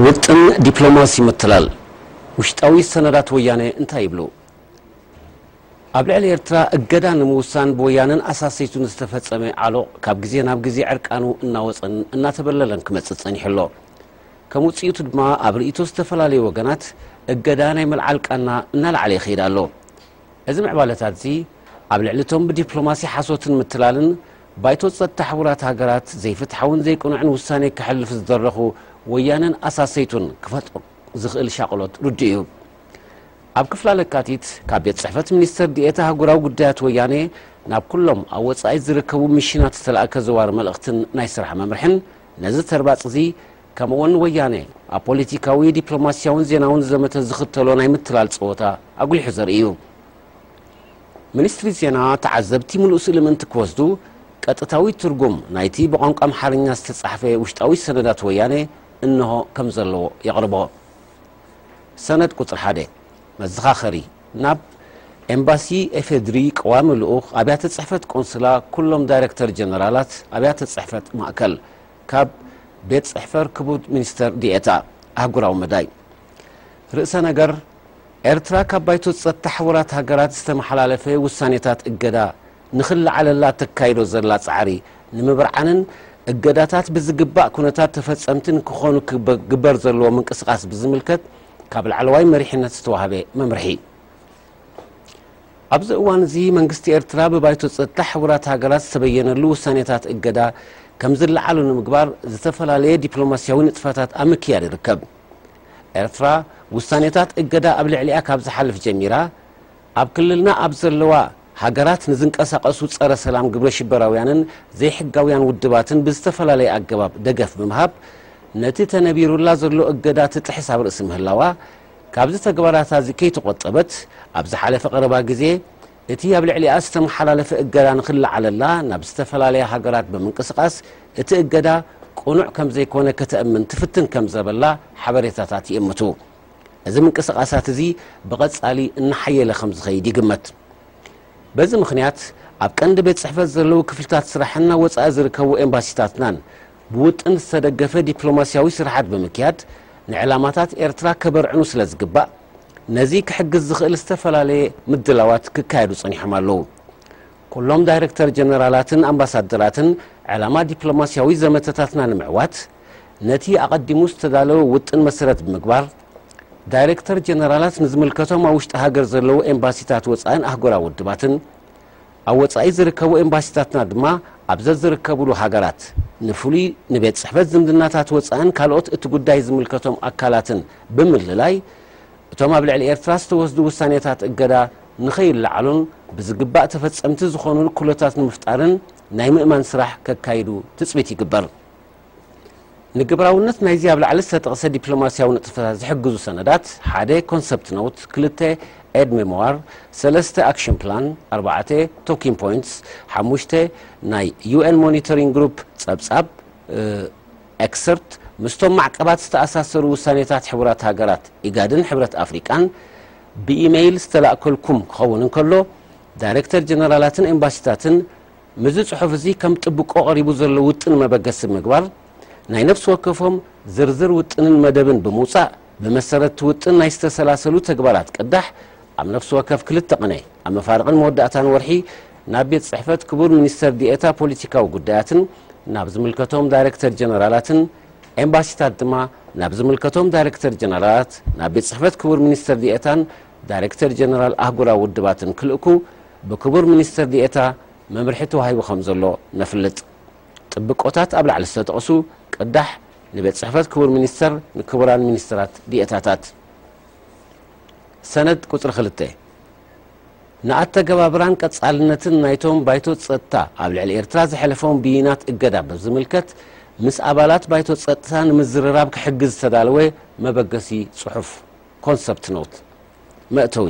ውጥን ዲፕሎማሲ ምትላል ውሽጣዊ ሰነዳት ወያነ እንታይ ይብሉ? ኣብ ልዕሊ ኤርትራ እገዳ ንምውሳን ብወያነን ኣሳሰይቱን ዝተፈጸመ ዓሎቕ ካብ ግዜ ናብ ግዜ ዕርቃኑ እናወጸን እናተበለለን ክመጽእ ጸኒሑ ኣሎ። ከም ውጽኢቱ ድማ ኣብ ርእይቶ ዝተፈላለዩ ወገናት እገዳ ናይ ምልዓል ቃና እናለዓለ ይኸይድ ኣሎ። እዚ ምዕባለታትዚ ኣብ ልዕሊ እቶም ብዲፕሎማሲ ሓሶትን ምትላልን ባይቶ ጸጥታ ሕቡራት ሃገራት ዘይፍትሓውን ዘይቅኑዕን ውሳኔ ከሕልፍ ዝደረኹ ወያነን ኣሳሰይቱን ክፈጥሮ ዝኽእል ሻቕሎት ርዱእ እዩ። ኣብ ክፍላ ለካቲት ካብ ቤት ጽሕፈት ሚኒስተር ዲኤታ ኣህጉራዊ ጉዳያት ወያኔ ናብ ኩሎም ኣብ ወጻኢ ዝርከቡ ሚሽናት ዝተላእከ ዘዋሪ መልእኽትን ናይ ስራሕ መምርሕን ነዚ ተርባጽ'ዚ ከምኡ'ውን ወያኔ ኣብ ፖሊቲካዊ፣ ዲፕሎማስያውን ዜናውን ዘመተ ዝኽተሎ ናይ ምትላል ጸወታ ኣጉሊሑ ዘርኢ እዩ። ሚኒስትሪ ዜና፣ ተዓዘብቲ ምሉእ ስእሊ ምእንቲ ክወስዱ፣ ቀጥታዊ ትርጉም ናይቲ ብቋንቋ ኣምሓርኛ ዝተጻሕፈ ውሽጣዊ ሰነዳት ወያነ እንሆ ከም ዘለዎ የቕርቦ። ሰነድ ቁጽሪ ሓደ፣ መዘኻኸሪ፣ ናብ ኤምባሲ ኤፌድሪ፣ ቀዋሚ ልኡኽ፣ ኣብያተ ጽሕፈት ቆንስላ፣ ኩሎም ዳይረክተር ጀነራላት ኣብያተ ጽሕፈት ማእከል፣ ካብ ቤት ጽሕፈር ክቡር ሚኒስተር ዲኤታ ኣህጉራዊ መዳይ ርእሰ ነገር፣ ኤርትራ ካብ ባይቶ ጸጥታ ሕቡራት ሃገራት ዝተመሓላለፈ ውሳኔታት እገዳ ንኽለዓለላ እተካይዶ ዘላ ጻዕሪ ንምብርዓንን እገዳታት ብዝግባእ ኩነታት ተፈጸምቲ ንክኾኑ ክግበር ዘለዎ ምንቅስቓስ ብዝምልከት ካብ ላዕለዋይ መሪሕነት ዝተዋህበ መምርሒ ኣብዚ እዋን እዚ መንግስቲ ኤርትራ ብባይቶ ጸጥታ ሕቡራት ሃገራት ዝተበየነሉ ውሳኔታት እገዳ ከም ዝለዓሉ ንምግባር ዝተፈላለየ ዲፕሎማስያዊ ንጥፈታት ኣብ ምክያድ ይርከብ። ኤርትራ ውሳኔታት እገዳ ኣብ ልዕሊኣ ካብ ዝሓልፍ ጀሚራ ኣብ ክልልና ኣብ ዘለዋ ሃገራት ንዝንቀሳቐሱ ጸረ ሰላም ግብረ ሽበራውያንን ዘይሕጋውያን ውድባትን ብዝተፈላለየ ኣገባብ ደገፍ ብምሃብ ነቲ ተነቢሩላ ዘሎ እገዳ ትጥሕስ ኣብ ርእሲ ምህላዋ ካብዚ ተግባራታዚ ከይተቖጠበት ኣብ ዝሓለፈ ቀረባ ግዜ እቲ ኣብ ልዕሊኣ ዝተመሓላለፈ እገዳ ንኽለዓለላ ናብ ዝተፈላለያ ሃገራት ብምንቅስቓስ እቲ እገዳ ቅኑዕ ከምዘይኮነ ከተእምን ትፍትን ከምዘበላ ሓበሬታታት ይእምቱ። እዚ ምንቅስቓሳት እዚ ብቐጻሊ እናሓየለ ከምዝኸይድ ይግመት። በዚ ምኽንያት ኣብ ቀንዲ ቤት ጽሕፈት ዘለዉ ክፍልታት ስራሕን ኣብ ወጻኢ ዝርከቡ ኤምባሲታትናን ብውጥን ዝተደገፈ ዲፕሎማስያዊ ስርሓት ብምክያድ ንዕላማታት ኤርትራ ከበርዕኑ ስለዝግባእ ነዚ ክሕግዝ ዝኽእል ዝተፈላለየ ምድላዋት ክካየዱ ጸኒሖም ኣለዉ። ኩሎም ዳይረክተር ጀነራላትን ኣምባሳደራትን ዕላማ ዲፕሎማስያዊ ዘመተታትና ንምዕዋት፣ ነቲ ኣቐዲሙ ዝተዳለወ ውጥን መሰረት ብምግባር፣ ዳይረክተር ጀነራላት ንዝምልከቶም ኣብ ውሽጢ ሃገር ዘለዉ ኤምባሲታት ወጻእን ኣህጉራዊ ውድባትን ኣብ ወጻኢ ዝርከቡ ኤምባሲታትና ድማ ኣብ ዘዝርከብሉ ሃገራት ንፍሉይ ንቤት ጽሕፈት ዝምድናታት ወጻእን ካልኦት እቲ ጉዳይ ዝምልከቶም ኣካላትን ብምልላይ እቶም ኣብ ልዕሊ ኤርትራ ዝተወስዱ ውሳኔታት እገዳ ንኸይለዓሉን ብዝግባእ ተፈጸምቲ ዝኾኑሉ ኩሎታት ንምፍጣርን ናይ ምእማን ስራሕ ከካይዱ ትጽቢት ይግበር። ንግብራውነት ናይዚ ኣብ ላዕሊ ዝተጠቕሰ ዲፕሎማስያዊ ንጥፈታት ዝሕግዙ ሰነዳት፣ ሓደ፣ ኮንሰፕት ኖት፣ ክልተ፣ ኤድ ሜሞዋር፣ ሰለስተ፣ ኣክሽን ፕላን፣ ኣርባዕተ፣ ቶኪን ፖይንትስ፣ ሓሙሽተ፣ ናይ ዩኤን ሞኒተሪንግ ግሩፕ ጸብጻብ፣ ኤክሰርት፣ ምስቶም ማዕቀባት ዝተኣሳሰሩ ውሳኔታት ሕቡራት ሃገራት፣ ኢጋድን ሕብረት ኣፍሪቃን ብኢመይል ዝተላእከልኩም ክኸውን እንከሎ፣ ዳይረክተር ጀነራላትን ኤምባሲታትን ምስዚ ፅሑፍ እዚ ከም ጥብቆ ቀሪቡ ዘሎ ውጥን መበገሲ ብምግባር ናይ ነፍሲ ወከፎም ዝርዝር ውጥንን መደብን ብምውፃእ ብመሰረት እቲ ውጥን ናይ ዝተሰላሰሉ ተግባራት ቅዳሕ ኣብ ነፍሲ ወከፍ ክልተ ቅነ ኣብ መፋርቕን መወዳእታን ወርሒ ናብ ቤት ፅሕፈት ክቡር ሚኒስትር ዲኤታ ፖሊቲካዊ ጉዳያትን ናብ ዝምልከቶም ዳይሬክተር ጀነራላትን ኤምባሲታት ድማ ናብ ዝምልከቶም ዳይሬክተር ጀነራላት ናብ ቤት ፅሕፈት ክቡር ሚኒስትር ዲኤታን ዳይሬክተር ጀነራል ኣህጉራዊ ውድባትን ክልእኩ ብክቡር ሚኒስትር ዲኤታ መምርሒ ተዋሂቡ ከምዘሎ ነፍልጥ። ጥብቆታት ኣብ ላዕሊ ዝተጠቕሱ ቅዳሕ ንቤት ጽሕፈት ክቡር ሚኒስተር ንክቡራን ሚኒስትራት ዲኤታታት። ሰነድ ቁጽሪ ክልተ ንኣተገባብራን ቀጻልነትን ናይቶም ባይቶ ጸጥታ ኣብ ልዕሊ ኤርትራ ዘሕለፎም ብይናት እገዳ ብዝምልከት ምስ ኣባላት ባይቶ ጸጥታ ንምዝርራብ ክሕግዝ ዝተዳለወ መበገሲ ጽሑፍ፣ Concept Note፣ መእተዊ፣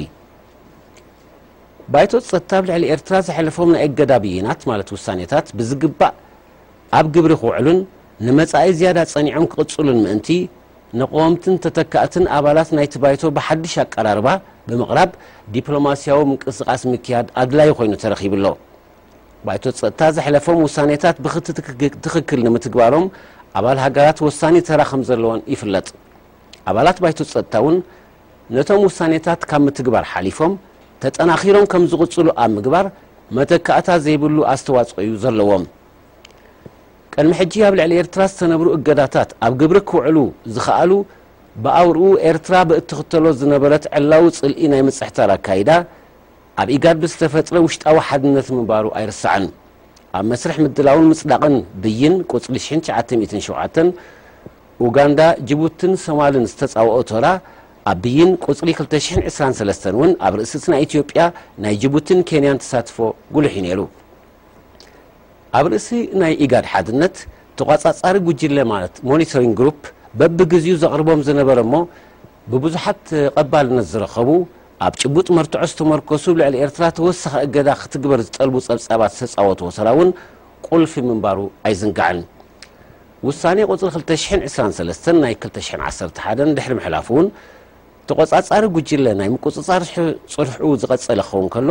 ባይቶ ጸጥታ ኣብ ልዕሊ ኤርትራ ዘሕለፎም ናይ እገዳ ብይናት ማለት ውሳኔታት ብዝግባእ ኣብ ግብሪ ክውዕሉን ንመጻኢ ዝያዳ ጸኒዖም ክቕጽሉን ምእንቲ፣ ንቐወምትን ተተካእትን ኣባላት ናይቲ ባይቶ ብሓድሽ ኣቀራርባ ብምቕራብ ዲፕሎማስያዊ ምንቅስቓስ ምክያድ ኣድላዪ ኮይኑ ተረኺቡ ኣሎ። ባይቶ ጸጥታ ዘሕለፎም ውሳኔታት ብክቲ ትክክል ንምትግባሮም ኣባል ሃገራት ወሳኒ ተራ ከምዘለወን ይፍለጥ። ኣባላት ባይቶ ጸጥታ እውን ነቶም ውሳኔታት ካብ ምትግባር ሓሊፎም ተጠናኺሮም ከም ዝቕፅሉ ኣብ ምግባር መተካእታ ዘይብሉ ኣስተዋፅኦ እዩ ዘለዎም። ቅድሚ ሕጂ ኣብ ልዕሊ ኤርትራ ዝተነብሩ እገዳታት ኣብ ግብሪ ክውዕሉ ዝኸኣሉ ብኣውርኡ ኤርትራ ብእትኽተሎ ዝነበረት ዕላዊ ፅልኢ ናይ ምፅሕታር ኣካይዳ ኣብ ኢጋድ ብዝተፈጥረ ውሽጣዊ ሓድነት ምንባሩ ኣይርሳዕን። ኣብ መስርሕ ምድላውን ምፅዳቕን ብይን ቁፅሪ ሽሕን ትሽዓተ ሚእትን ሸውዓተን፣ ኡጋንዳ፣ ጅቡትን ሶማልን ዝተጻወኦ ተራ ኣቢይን ቁጽሪ ክልተ ሽሕን ዕስራን ሰለስተን እውን ኣብ ርእሲ እቲ ናይ ኢትዮጵያ፣ ናይ ጅቡትን ኬንያን ተሳትፎ ጉሉሕ እዩ ነይሩ። ኣብ ርእሲ ናይ ኢጋድ ሓድነት፣ ተቋጻጻሪ ጉጅለ ማለት ሞኒተሪንግ ግሩፕ በብግዚኡ ዘቕርቦም ዝነበረ እሞ ብብዙሓት ተቐባልነት ዝረኸቡ ኣብ ጭቡጥ መርትዖ ዝተመርኮሱ ልዕሊ ኤርትራ ተወሳኺ እገዳ ክትግበር ዝጠልቡ ጸብጻባት ዝተጻወትዎ ተራ እውን ቁልፊ ምንባሩ ኣይዝንጋዕን። ውሳኔ ቁጽሪ ክልተ ሽሕን ዕስራን ሰለስተን ናይ ክልተ ሽሕን ዓሰርተ ሓደን ድሕሪ ምሕላፉ ውን፣ ተቖጻጻሪ ጉጅለ ናይ ምቁጽጻር ጽንሕኡ ዝቐጸለ ክኸውን ከሎ፣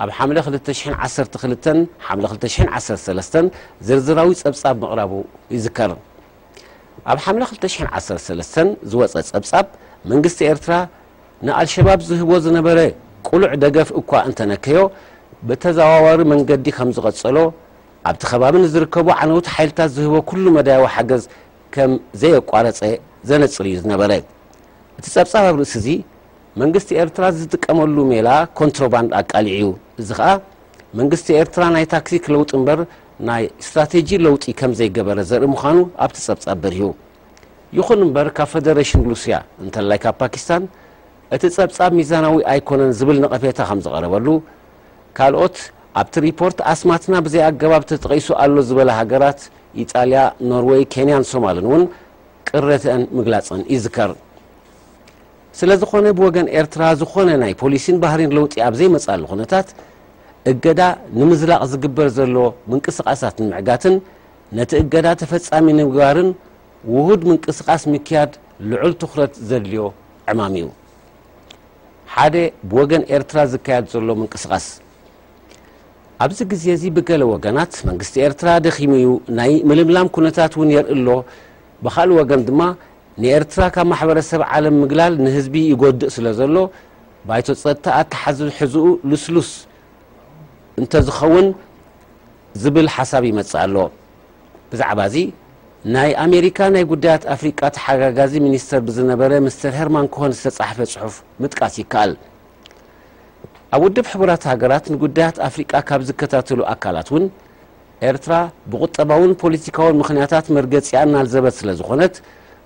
ኣብ ሓምለ ክልተ ሽሕን ዓሰርተ ክልተን ሓምለ ክልተ ሽሕን ዓሰርተ ሰለስተን ዝርዝራዊ ጸብጻብ ምቕራቡ ይዝከር። ኣብ ሓምለ ክልተ ሽሕን ዓሰርተ ሰለስተን ዝወጸ ጸብጻብ፣ መንግስቲ ኤርትራ ንኣልሸባብ ዝህቦ ዝነበረ ቅሉዕ ደገፍ እኳ እንተነከዮ፣ ብተዘዋዋሪ መንገዲ ከምዝቐጸሎ ኣብቲ ከባቢ ንዝርከቡ ዓነውቲ ሓይልታት ዝህቦ ኩሉ መዳያዊ ሓገዝ ከም ዘየቋረጸ ዘነጽር እዩ ዝነበረ። እቲ ጸብጻብ ኣብ ርእሲ እዚ፣ መንግስቲ ኤርትራ ዝጥቀመሉ ሜላ ኮንትሮባንድ ኣቃሊዑ እዩ። እዚ ከኣ መንግስቲ ኤርትራ ናይ ታክቲክ ለውጢ እምበር ናይ ስትራቴጂ ለውጢ ከም ዘይገበረ ዘርኢ ምዃኑ ኣብቲ ጸብጻብ በሪሁ። ይኹን እምበር ካብ ፈደረሽን ሩስያ እንተላይ ካብ ፓኪስታን እቲ ጸብጻብ ሚዛናዊ ኣይኮነን ዝብል ነቐፌታ ከም ዝቐረበሉ፣ ካልኦት ኣብቲ ሪፖርት ኣስማትና ብዘይ ኣገባብ ተጠቒሱ ኣሎ ዝበላ ሃገራት ኢጣልያ፣ ኖርወይ፣ ኬንያን ሶማልን እውን ቅረተኣን ምግላፀን ይዝከር። ስለዝኾነ ብወገን ኤርትራ ዝኾነ ናይ ፖሊሲን ባህሪን ለውጢ ኣብ ዘይመፅኣሉ ኩነታት እገዳ ንምዝላቕ ዝግበር ዘሎ ምንቅስቓሳት ንምዕጋትን ነቲ እገዳ ተፈፃሚ ንምግባርን ውሁድ ምንቅስቓስ ምክያድ ልዑል ትኹረት ዘድልዮ ዕማም እዩ። ሓደ ብወገን ኤርትራ ዝካየድ ዘሎ ምንቅስቓስ ኣብዚ ግዜ እዚ ብገለ ወገናት መንግስቲ ኤርትራ ደኺሙ እዩ፣ ናይ ምልምላም ኩነታት እውን የርኢ ኣሎ፣ ብኻልእ ወገን ድማ ንኤርትራ ካብ ማሕበረሰብ ዓለም ምግላል ንህዝቢ ይጎድእ ስለዘሎ ባይቶ ጸጥታ ኣተሓዝሕዝኡ ልስሉስ እንተዝኸውን ዝብል ሓሳብ ይመጽእ ኣሎ። ብዛዕባዚ ናይ ኣሜሪካ ናይ ጉዳያት ኣፍሪቃ ተሓጋጋዚ ሚኒስተር ብዝነበረ ምስተር ሄርማን ኮሆን ዝተጻሕፈ ጽሑፍ ምጥቃስ ይከኣል። ኣብ ውድብ ሕቡራት ሃገራት ንጉዳያት ኣፍሪቃ ካብ ዝከታተሉ ኣካላት እውን ኤርትራ ብቁጠባውን ፖሊቲካውን ምኽንያታት መርገጺኣ እናልዘበት ስለ ዝኾነት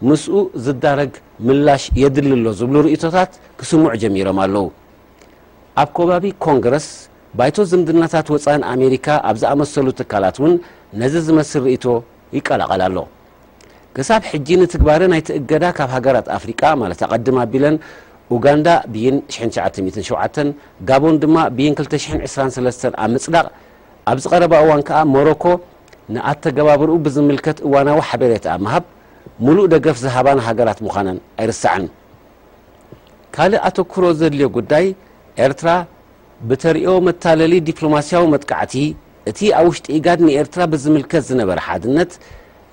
ምስኡ ዝዳረግ ምላሽ የድሊ ኣሎ ዝብሉ ርእይቶታት ክስምዑ ጀሚሮም ኣለዉ። ኣብ ኮባቢ ኮንግረስ ባይቶ ዝምድናታት ወጻእን ኣሜሪካ ኣብ ዝኣመሰሉ ትካላት እውን ነዚ ዝመስል ርእይቶ ይቀላቐል ኣሎ። ክሳብ ሕጂ ንትግባረ ናይቲ እገዳ ካብ ሃገራት ኣፍሪቃ ማለት ኣቐድም ኣቢለን ኡጋንዳ ብይን ሽሕን ትሽዓተ ሚእትን ሸውዓተን ጋቦን ድማ ብይን ክልተ ሽሕን ዕስራን ሰለስተን ኣብ ምጽዳቕ ኣብዚ ቀረባ እዋን ከኣ ሞሮኮ ንኣተገባብርኡ ብዝምልከት እዋናዊ ሓቤሬታ ኣብ ምሃብ ሙሉእ ደገፍ ዝሃባን ሃገራት ምዃነን ኣይርሳዕን። ካልእ ኣተኩሮ ዘድልዮ ጉዳይ ኤርትራ ብተርእዮ መታለሊ ዲፕሎማሲያዊ መጥቃዕቲ፣ እቲ ኣብ ውሽጢ ኢጋድ ንኤርትራ ብዝምልከት ዝነበረ ሓድነት፣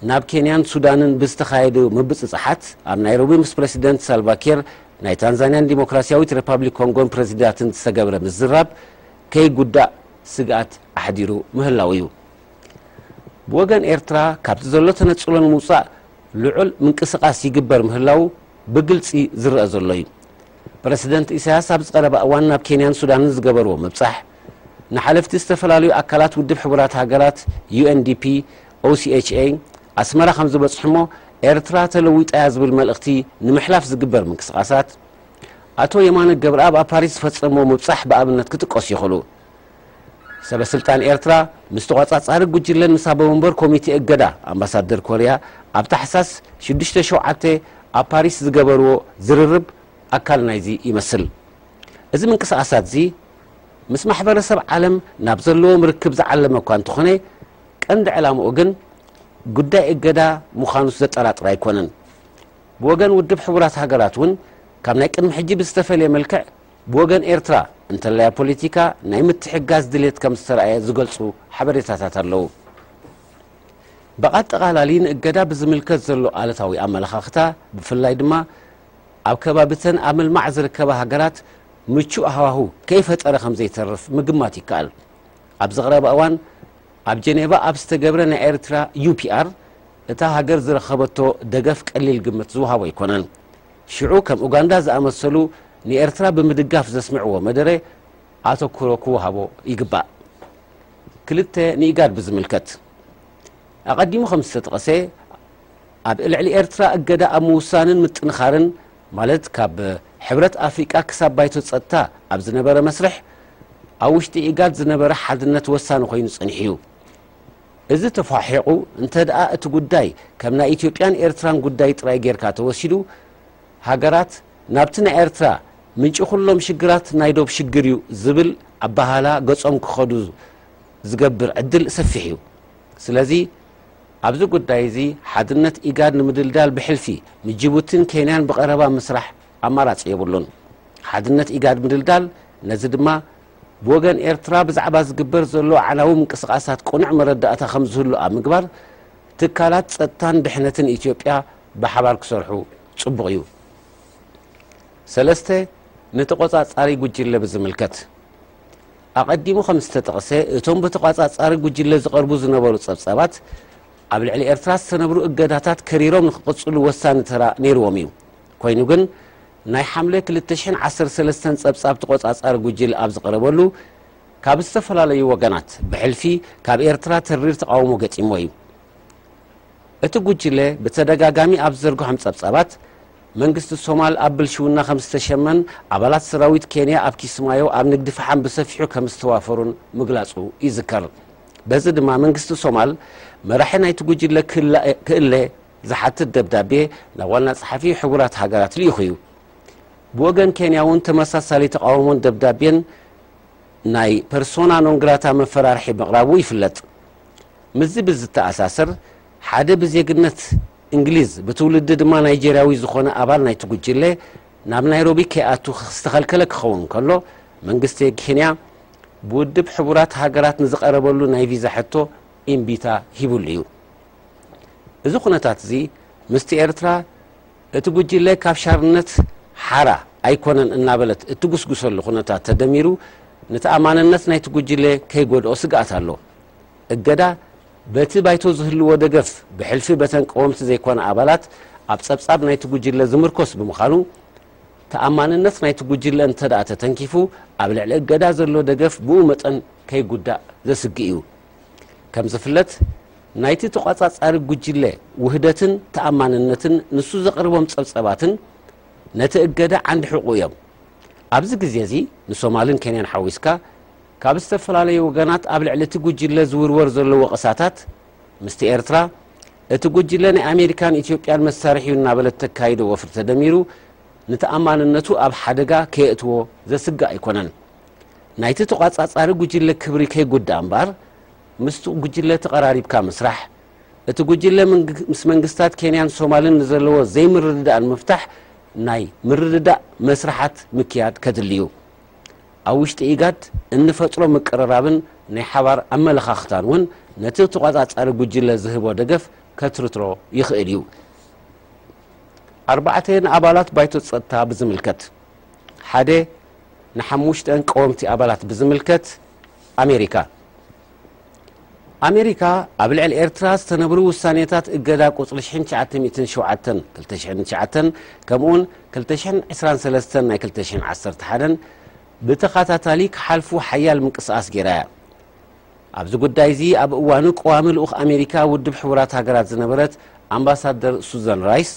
ናብ ኬንያን ሱዳንን ብዝተኻየዱ ምብጽጻሓት፣ ኣብ ናይሮቢ ምስ ፕረሲደንት ሳልቫ ኬር ናይ ታንዛንያን ዲሞክራሲያዊት ረፓብሊክ ኮንጎን ፕረዚዳትን ዝተገብረ ምዝራብ ከይጉዳእ ስግኣት ኣሕዲሩ ምህላዉ እዩ። ብወገን ኤርትራ ካብቲ ዘሎ ተነጽሎ ንምውጻእ ልዑል ምንቅስቓስ ይግበር ምህላዉ ብግልጺ ዝረኣ ዘሎ እዩ። ፕረሲደንት ኢሳያስ ኣብዚ ቀረባ እዋን ናብ ኬንያን ሱዳንን ዝገበርዎ ምብጻሕ፣ ንሓለፍቲ ዝተፈላለዩ ኣካላት ውድብ ሕቡራት ሃገራት፣ UNDP፣ OCHA፣ ኣስመራ ከም ዝበጽሑ'ሞ ኤርትራ ተለዊጣ'ያ ዝብል መልእኽቲ ንምሕላፍ ዝግበር ምንቅስቓሳት ኣቶ የማነ ገብርኣብ ኣብ ፓሪስ ዝፈጸምዎ ምብጻሕ ብኣብነት ክጥቀሱ ይኽእሉ። ሰበስልጣን ኤርትራ ምስ ተቖጻጻሪ ጉጅለን ምስ ኣቦመንበር ኮሚቴ እገዳ ኣምባሳደር ኮርያ ኣብ ታሕሳስ ሽዱሽተ ሸውዓተ ኣብ ፓሪስ ዝገበርዎ ዝርርብ ኣካል ናይዚ ይመስል። እዚ ምንቅስቓሳትዚ ምስ ማሕበረሰብ ዓለም ናብ ዘለዎም ርክብ ዝዓለመ እኳ እንተኾነ ቀንዲ ዕላምኡ ግን ጉዳይ እገዳ ምዃኑስ ዘጠራጥር ኣይኮነን። ብወገን ውድብ ሕቡራት ሃገራት እውን ካብ ናይ ቅድሚ ሕጂ ብዝተፈልየ መልክዕ ብወገን ኤርትራ እንተላይ ኣብ ፖሊቲካ ናይ ምትሕግጋዝ ድሌት ከም ዝተርኣየ ዝገልጹ ሓበሬታታት ኣለዉ። ብኣጠቓላሊ ንእገዳ ብዝምልከት ዘሎ ኣሉታዊ ኣመለኻኽታ ብፍላይ ድማ ኣብ ከባቢ'ተን ኣብ ምልማዕ ዝርከባ ሃገራት ምቹእ ሃዋሁ ከይፈጠረ ከም ዘይተርፍ ምግማት ይከኣል። ኣብዚ ቀረባ እዋን ኣብ ጀኔቫ ኣብ ዝተገብረ ናይ ኤርትራ ዩፒኣር እታ ሃገር ዝረኸበቶ ደገፍ ቀሊል ግምት ዝወሃቦ ኣይኮነን። ሽዑ ከም ኡጋንዳ ዝኣመሰሉ ንኤርትራ ብምድጋፍ ዘስምዕዎ መደረ ኣተኩሮ ክወሃቦ ይግባእ። ክልተ፣ ንኢጋድ ብዝምልከት ኣቐዲሙ ከም ዝተጠቐሰ ኣብ ልዕሊ ኤርትራ እገዳ ኣብ ምውሳንን ምጥንኻርን ማለት ካብ ሕብረት ኣፍሪቃ ክሳብ ባይቶ ጸጥታ ኣብ ዝነበረ መስርሕ ኣብ ውሽጢ ኢጋድ ዝነበረ ሓድነት ወሳኒ ኮይኑ ጸኒሑ'ዩ። እዚ ተፏሒቑ እንተድኣ እቲ ጉዳይ ከም ናይ ኢትዮጵያን ኤርትራን ጉዳይ ጥራይ ጌርካ ተወሲዱ፣ ሃገራት ናብቲ ናይ ኤርትራ ምንጪ ኩሎም ሽግራት ናይ ዶብ ሽግር እዩ ዝብል ኣበሃህላ ገጾም ክኸዱ ዝገብር ዕድል ሰፊሕ እዩ። ስለዚ ኣብዚ ጉዳይ እዚ ሓድነት ኢጋድ ንምድልዳል ብሕልፊ ንጂቡቲን ኬንያን ብቐረባ ምስራሕ ኣማራጺ የብሉን። ሓድነት ኢጋድ ምድልዳል ነዚ ድማ ብወገን ኤርትራ ብዛዕባ ዝግበር ዘሎ ኣዕናዊ ምንቅስቓሳት ቅኑዕ መረዳእታ ከምዝህሉ ኣብ ምግባር ትካላት ጸጥታን ድሕነትን ኢትዮጵያ ብሓባር ክሰርሑ ጽቡቕ እዩ። ሰለስተ፣ ንተቖጻጻሪ ጉጅለ ብዝምልከት፣ ኣቐዲሙ ከምዝተጠቕሰ እቶም ብተቛጻጻሪ ጉጅለ ዝቐርቡ ዝነበሩ ጸብጻባት ኣብ ልዕሊ ኤርትራ ዝተነብሩ እገዳታት ከሪሮም ንክቕጽሉ ወሳኒ ተራ ነይርዎም እዩ። ኮይኑ ግን ናይ ሓምለ ክልተ ሽሕን ዓሰርተ ሰለስተን ጸብጻብ ተቖጻጻሪ ጉጅለ ኣብ ዝቐረበሉ፣ ካብ ዝተፈላለዩ ወገናት፣ ብሕልፊ ካብ ኤርትራ ተሪር ተቓውሞ ገጢምዎ እዩ። እቲ ጉጅለ ብተደጋጋሚ ኣብ ዝዘርግሖም ጸብጻባት፣ መንግስቲ ሶማል ኣብ ብልሽውና ከም ዝተሸመን ኣባላት ሰራዊት ኬንያ ኣብ ኪስማዮ ኣብ ንግዲ ፈሓም ብሰፊሑ ከም ዝተዋፈሩን ምግላጹ ይዝከር። በዚ ድማ መንግስቲ ሶማል መራሒ ናይቲ ጉጅለ ክእለ፣ ዝሓትት ደብዳቤ ናብ ዋና ጸሓፊ ሕቡራት ሃገራት ልኢኹ እዩ። ብወገን ኬንያ እውን ተመሳሳሊ ተቓውሞን ደብዳቤን ናይ ፐርሶና ኖንግራታ መፈራርሒ ምቕራቡ ይፍለጥ። ምስዚ ብዝተኣሳሰር ሓደ ብዜግነት እንግሊዝ ብትውልዲ ድማ ናይጀርያዊ ዝኾነ ኣባል ናይቲ ጉጅለ ናብ ናይሮቢ ከይኣቱ ዝተኸልከለ ክኸውን ከሎ መንግስቲ ኬንያ ብውድብ ሕቡራት ሃገራት ንዝቐረበሉ ናይ ቪዛ ሕቶ ኢምቢታ ሂብሉ እዩ። እዚ ኩነታት'ዚ ምስቲ ኤርትራ እቲ ጉጅለ ካብ ሻርነት ሓራ ኣይኮነን እናበለት እትጉስጉሰሉ ኩነታት ተደሚሩ ንተኣማንነት ናይቲ ጉጅለ ከይጎድኦ ስግኣት ኣሎ። እገዳ በቲ ባይቶ ዝህልዎ ደገፍ ብሕልፊ በተን ቀወምቲ ዘይኮና ኣባላት ኣብ ጸብጻብ ናይቲ ጉጅለ ዝምርኮስ ብምዃኑ ተኣማንነት ናይቲ ጉጅለ እንተድኣ ተተንኪፉ ኣብ ልዕሊ እገዳ ዘሎ ደገፍ ብኡ መጠን ከይጉዳእ ዘስግእ እዩ። ከምዝፍለጥ ናይቲ ተቋጻጻሪ ጉጅለ ውህደትን ተኣማንነትን ንሱ ዘቕርቦም ጸብጸባትን ነቲ እገዳ ዓንዲ ሕቁ እዮም። ኣብዚ ግዜ እዚ ንሶማልን ኬንያን ሓዊስካ ካብ ዝተፈላለዩ ወገናት ኣብ ልዕሊ እቲ ጉጅለ ዝውርወር ዘሎ ወቐሳታት ምስቲ ኤርትራ እቲ ጉጅለ ናይ ኣሜሪካን ኢትዮጵያን መሳርሒ እዩ እናበለት ተካይዶ ወፍሪ ተደሚሩ ንተኣማንነቱ ኣብ ሓደጋ ከየእትዎ ዘስግእ ኣይኮነን። ናይቲ ተቋጻጻሪ ጉጅለ ክብሪ ከይጉዳእ እምበኣር ምስቲ ጉጅለ ተቐራሪብካ ምስራሕ፣ እቲ ጉጅለ ምስ መንግስታት ኬንያን ሶማልን ንዘለዎ ዘይምርድዳእ ንምፍታሕ ናይ ምርድዳእ መስርሓት ምክያድ ከድሊ እዩ። ኣብ ውሽጢ ኢጋድ እንፈጥሮ ምቅርራብን ናይ ሓባር ኣመለኻኽታን እውን ነቲ ተቋጻጻሪ ጉጅለ ዝህቦ ደገፍ ከትርትሮ ይኽእል እዩ። ኣርባዕተ ንኣባላት ባይቶ ጸጥታ ብዝምልከት፣ ሓደ ንሓሙሽተ ቀወምቲ ኣባላት ብዝምልከት ኣሜሪካ ኣሜሪካ ኣብ ልዕሊ ኤርትራ ዝተነብሩ ውሳኔታት እገዳ ቁጽሪ ሽሕን ትሽዓተ ሚእትን ሸውዓተን ክልተ ሽሕን ትሽዓተን ከምኡውን ክልተ ሽሕን ዕስራን ሰለስተን ናይ ክልተ ሽሕን ዓሰርተ ሓደን ብተኸታታሊ ክሓልፉ ሓያል ምንቅስቓስ ገይራ እያ። ኣብዚ ጉዳይ እዚ ኣብ እዋኑ ቀዋሚ ልኡኽ ኣሜሪካ ውድብ ሕቡራት ሃገራት ዝነበረት ኣምባሳደር ሱዘን ራይስ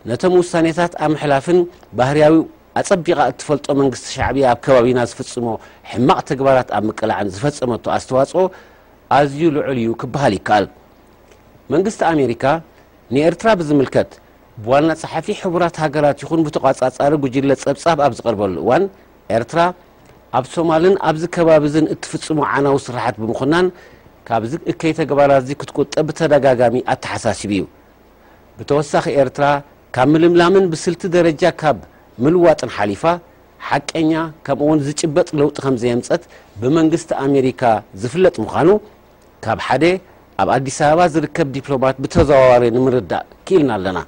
ነቶም ውሳኔታት ኣብ ምሕላፍን ባህርያዊ ኣጸቢቓ እትፈልጦ መንግስቲ ሻዕብያ ኣብ ከባቢና ዝፍጽሞ ሕማቕ ተግባራት ኣብ ምቅላዕን ዝፈጸመቶ ኣስተዋጽኦ ኣዝዩ ልዑል እዩ ክበሃል ይከኣል። መንግስቲ ኣሜሪካ ንኤርትራ ብዝምልከት ብዋና ጸሓፊ ሕቡራት ሃገራት ይኹን ብተቖጻጻሪ ጉጅለ ጸብጻብ ኣብ ዝቐርበሉ እዋን ኤርትራ ኣብ ሶማልን ኣብዚ ከባቢዝን እትፍጽሞ ዓናዊ ስርሓት ብምኹናን ካብዚ እከይ ተግባራትዚ ክትቁጠብ ብተደጋጋሚ ኣተሓሳሲቡ እዩ። ብተወሳኺ ኤርትራ ካብ ምልምላምን ብስልቲ ደረጃ ካብ ምልዋጥን ሓሊፋ ሓቀኛ ከምኡ'ውን ዝጭበጥ ለውጢ ከምዘየምጸት ብመንግስቲ ኣሜሪካ ዝፍለጥ ምዃኑ ካብ ሓደ ኣብ ኣዲስ ኣበባ ዝርከብ ዲፕሎማት ብተዘዋዋሪ ንምርዳእ ክኢልና ኣለና።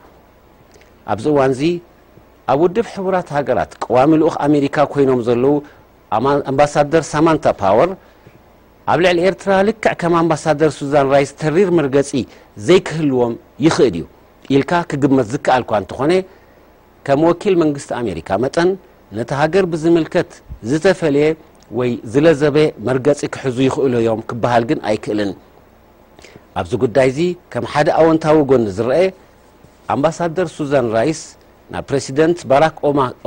ኣብዚ እዋንዚ ኣብ ውድብ ሕቡራት ሃገራት ቀዋሚ ልኡኽ ኣሜሪካ ኮይኖም ዘለዉ ኣምባሳደር ሳማንታ ፓወር፣ ኣብ ልዕሊ ኤርትራ ልክዕ ከም ኣምባሳደር ሱዛን ራይስ ተሪር መርገጺ ዘይክህልዎም ይኽእል እዩ ኢልካ ክግመት ዝከኣል'ኳ እንተኾነ፣ ከም ወኪል መንግስቲ ኣሜሪካ መጠን ነታ ሃገር ብዝምልከት ዝተፈልየ ወይ ዝለዘበ መርገጺ ክሕዙ ይኽእሉ እዮም ክበሃል ግን ኣይክእልን። ኣብዚ ጉዳይ'ዚ ከም ሓደ ኣወንታዊ ጎኒ ዝረኤ፣ ኣምባሳደር ሱዛን ራይስ ናብ ፕረሲደንት ባራክ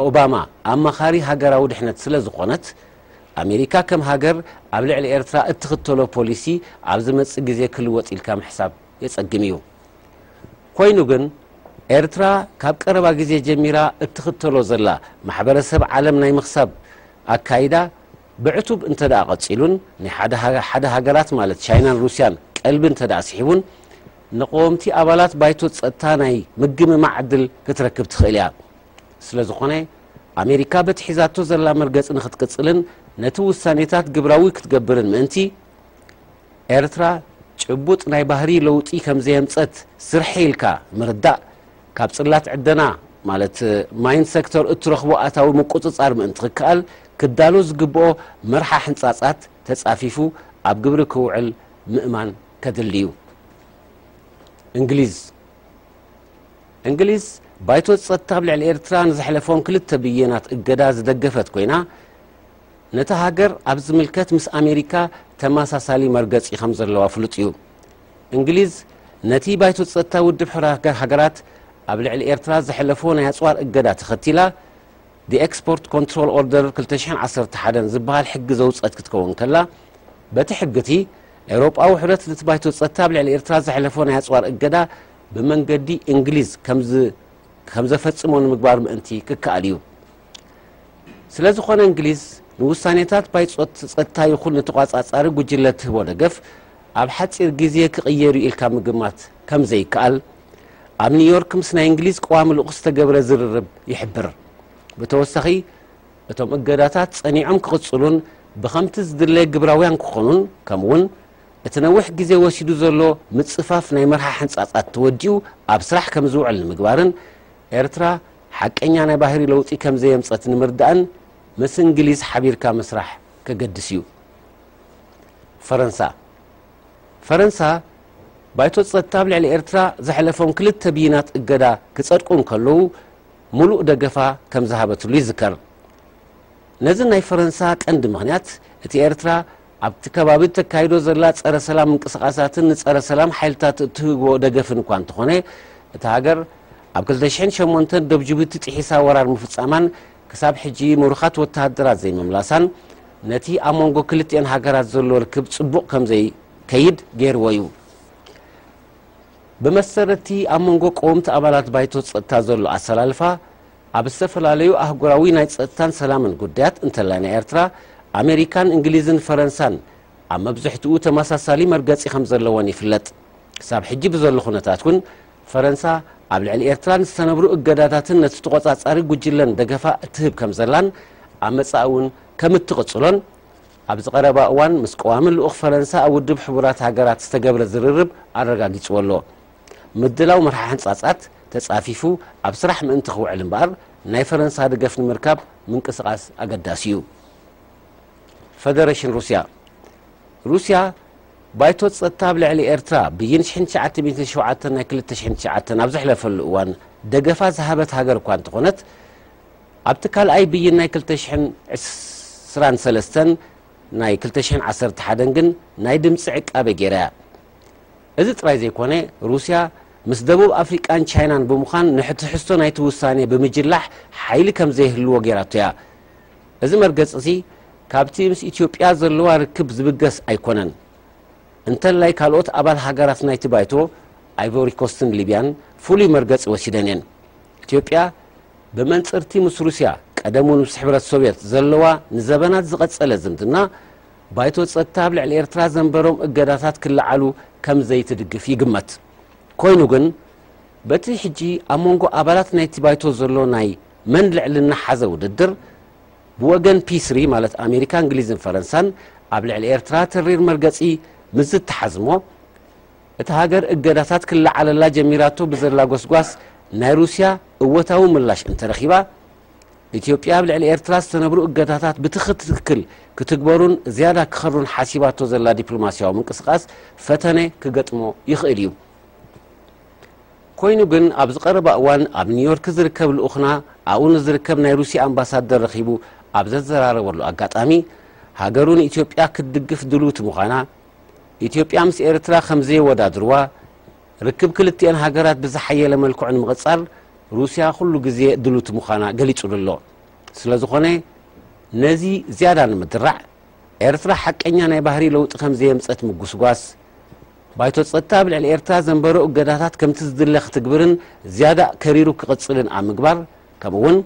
ኦባማ ኣማኻሪ ሃገራዊ ድሕነት ስለዝኾነት፣ ኣሜሪካ ከም ሃገር ኣብ ልዕሊ ኤርትራ እትኽተሎ ፖሊሲ ኣብ ዝመጽእ ግዜ ክልወጥ ኢልካ ምሕሳብ የጸግም ኢዩ። ኮይኑ ግን ኤርትራ ካብ ቀረባ ግዜ ጀሚራ እትኽተሎ ዘላ ማሕበረሰብ ዓለም ናይ ምኽሳብ ኣካይዳ ብዕቱብ እንተድኣ ቀጺሉን ናይ ሓደ ሃገራት ማለት ቻይናን ሩስያን ቀልቢ እንተድኣ ስሒቡን ንቐወምቲ ኣባላት ባይቶ ጸጥታ ናይ ምግምማዕ ዕድል ክትረክብ ትኽእል ኢያ። ስለዝኾነ ኣሜሪካ በቲ ሒዛቶ ዘላ መርገፂ ንክትቅፅልን ነቲ ውሳኔታት ግብራዊ ክትገብርን ምእንቲ፣ ኤርትራ ጭቡጥ ናይ ባህሪ ለውጢ ከምዘየምፀት ስርሐይ ኢልካ ምርዳእ ካብ ፅላት ዕደና ማለት ማይን ሴክተር እትረኽቦ ኣታዊ ምቁፅፃር ምእንቲ ክከኣል ክዳሎ ዝግብኦ መርሓ ሕንፃፃት ተፃፊፉ ኣብ ግብሪ ክውዕል ምእማን ከድሊ እዩ። እንግሊዝ። እንግሊዝ፣ ባይቶ ጸጥታ ኣብ ልዕሊ ኤርትራ ንዘሕለፎም ክልተ ብይናት እገዳ ዝደገፈት ኮይና፣ ነታ ሃገር ኣብ ዝምልከት ምስ ኣሜሪካ ተመሳሳሊ መርገጺ ከም ዘለዋ ፍሉጥ እዩ። እንግሊዝ፣ ነቲ ባይቶ ጸጥታ ውድብ ሕቡራት ሃገራት ኣብ ልዕሊ ኤርትራ ዘሕለፎ ናይ ኣጽዋር እገዳ ተኸቲላ፣ The Export Control Order ክልተ ሽሕን ዓሰርተ ሓደን ዝበሃል ሕጊ ዘውጸት ክትከውን ከላ፣ በቲ ሕጊ'ቲ ኤውሮጳዊ ሕብረት ነቲ ባይቶ ጸጥታ ኣብ ልዕሊ ኤርትራ ዘሕለፎ ናይ ኣጽዋር እገዳ ብመንገዲ እንግሊዝ ከም ዘፈጽሞ ንምግባር ምእንቲ ክከኣል እዩ። ስለ ዝኾነ እንግሊዝ ንውሳኔታት ባይጾት ጸጥታ ይኹን ንተቋጻጻሪ ጉጅለ ትህቦ ደገፍ ኣብ ሓጺር ግዜ ክቕየር እዩ ኢልካ ምግማት ከም ዘይከኣል ኣብ ኒውዮርክ ምስ ናይ እንግሊዝ ቀዋሚ ልኡኽ ዝተገብረ ዝርርብ ይሕብር። ብተወሳኺ እቶም እገዳታት ጸኒዖም ክቕጽሉን ብኸምቲ ዝድለ ግብራውያን ክኾኑን ከምኡ'ውን እቲ ነዊሕ ግዜ ወሲዱ ዘሎ ምጽፋፍ ናይ መርሓ ሕንጻጻት ተወዲኡ ኣብ ስራሕ ከም ዝውዕል ንምግባርን ኤርትራ ሓቀኛ ናይ ባህሪ ለውጢ ከም ዘየምጸት ንምርዳእን ምስ እንግሊዝ ሓቢርካ ምስራሕ ከገድስ እዩ። ፈረንሳ ፈረንሳ ባይቶ ጸጥታ ኣብ ልዕሊ ኤርትራ ዘሕለፎም ክልተ ብይናት እገዳ ክጸድቁ እንከለዉ ምሉእ ደገፋ ከም ዝሃበትሉ ይዝከር። ነዚ ናይ ፈረንሳ ቀንዲ ምኽንያት እቲ ኤርትራ ኣብቲ ከባቢ እተካይዶ ዘላ ጸረ ሰላም ምንቅስቓሳትን ንጸረ ሰላም ሓይልታት እትህቦ ደገፍን እኳ እንተኾነ፣ እታ ሃገር ኣብ ክልተ ሽሕን ሸሞንተን ዶብ ጂቡቲ ጥሒሳ ወራር ምፍጻማን ክሳብ ሕጂ ምሩኻት ወተሃደራት ዘይምምላሳን ነቲ ኣብ መንጎ ክልቲኤን ሃገራት ዘሎ ርክብ ጽቡቕ ከም ዘይከይድ ገይርዎ እዩ። ብመሰረት እቲ ኣብ መንጎ ቀወምቲ ኣባላት ባይቶ ጸጥታ ዘሎ ኣሰላልፋ፣ ኣብ ዝተፈላለዩ ኣህጉራዊ ናይ ጸጥታን ሰላምን ጉዳያት እንተላይ ናይ ኤርትራ፣ ኣመሪካን እንግሊዝን ፈረንሳን ኣብ መብዝሕትኡ ተመሳሳሊ መርገጺ ከም ዘለወን ይፍለጥ። ክሳብ ሕጂ ብዘሎ ኩነታት እውን ፈረንሳ ኣብ ልዕሊ ኤርትራ ንዝተነብሩ እገዳታትን ነቲ ተቖጻጻሪ ጉጅለን ደገፋ እትህብ ከም ዘላን ኣብ መጻኢ እውን ከም እትቕጽሎን ኣብዚ ቀረባ እዋን ምስ ቀዋሚ ልኡኽ ፈረንሳ ኣብ ውድብ ሕቡራት ሃገራት ዝተገብረ ዝርርብ ኣረጋጊጽዎ ኣሎ። ምድላው መርሓ ሕንጻጻት ተጻፊፉ ኣብ ስራሕ ምእንቲ ክውዕል እምበኣር ናይ ፈረንሳ ደገፍ ንምርካብ ምንቅስቓስ ኣገዳሲ እዩ። ፈደረሽን ሩስያ ሩስያ ባይቶ ጸጥታ ኣብ ልዕሊ ኤርትራ ብይን ሽሕን ትሽዓተ ሚእትን ሸውዓተን ናይ ክልተ ሽሕን ትሽዓተን ኣብ ዘሕለፈሉ እዋን ደገፋ ዝሃበት ሃገር እኳ እንተኾነት ኣብቲ ካልኣይ ብይን ናይ ክልተ ሽሕን ዕስራን ሰለስተን ናይ ክልተ ሽሕን ዓሰርተ ሓደን ግን ናይ ድምጺ ዕቃበ ገይራ እያ። እዚ ጥራይ ዘይኮነ፣ ሩስያ ምስ ደቡብ ኣፍሪቃን ቻይናን ብምዃን ንሕትሕዝቶ ናይቲ ውሳኔ ብምጅላሕ ሓይሊ ከም ዘይህልዎ ገይራቶ እያ። እዚ መርገጺ'ዚ ካብቲ ምስ ኢትዮጵያ ዘለዋ ርክብ ዝብገስ ኣይኮነን። እንተላይ ካልኦት ኣባል ሃገራት ናይቲ ባይቶ፣ ኣይቮሪኮስትን ሊብያን፣ ፍሉይ መርገጺ ወሲደን እየን። ኢትዮጵያ፣ ብመንጽር'ቲ ምስ ሩስያ ቀደም'ውን ምስ ሕብረት ሶቭየት ዘለዋ ንዘበናት ዝቐጸለ ዝምድና፣ ባይቶ ጸጥታ ኣብ ልዕሊ ኤርትራ ዘንበሮም እገዳታት ክለዓሉ ከም ዘይትድግፍ ይግመት። ኮይኑ ግን በቲ ሕጂ ኣብ መንጎ ኣባላት ናይቲ ባይቶ ዘሎ ናይ መን ልዕልና ሓዘ ውድድር፣ ብወገን ፒስሪ ማለት ኣሜሪካ፣ እንግሊዝን ፈረንሳን ኣብ ልዕሊ ኤርትራ ተሪር መርገጺ ምስ ዝተሓዝሞ፣ እታ ሃገር እገዳታት ክለዓለላ ጀሚራቶ ብዘላ ጎስጓስ ናይ ሩስያ እወታዊ ምላሽ እንተረኺባ፣ ኢትዮጵያ ኣብ ልዕሊ ኤርትራ ዝተነብሩ እገዳታት ብትክትክል ክትግበሩን ዝያዳ ክኸሩን ሓሲባቶ ዘላ ዲፕሎማሲያዊ ምንቅስቃስ ፈተነ ክገጥሞ ይኽእል እዩ። ኮይኑ ግን ኣብዚ ቀረባ እዋን ኣብ ኒውዮርክ ዝርከብ ልኡኽና ኣብኡ ንዝርከብ ናይ ሩሲያ ኣምባሳደር ረኺቡ ኣብ ዘዘራረበሉ ኣጋጣሚ ሃገሩ ንኢትዮጵያ ክትድግፍ ድልውቲ ምዃና ኢትዮጵያ ምስ ኤርትራ ከምዘየወዳድርዋ ርክብ ክልቲኤን ሃገራት ብዝሓየለ መልክዑ ንምቕጻል ሩስያ ኩሉ ግዜ ድሉቲ ምዃና ገሊጹሉ ኣሎ። ስለዝኾነ ነዚ ዝያዳ ንምድራዕ፣ ኤርትራ ሓቀኛ ናይ ባህሪ ለውጢ ከምዘየምጸት ምጉስጓስ፣ ባይቶ ጸጥታ ኣብ ልዕሊ ኤርትራ ዘንበሮ እገዳታት ከምቲ ዝድለ ክትግብርን ዝያዳ ከሪሩ ክቕጽልን ኣብ ምግባር፣ ከምኡ'ውን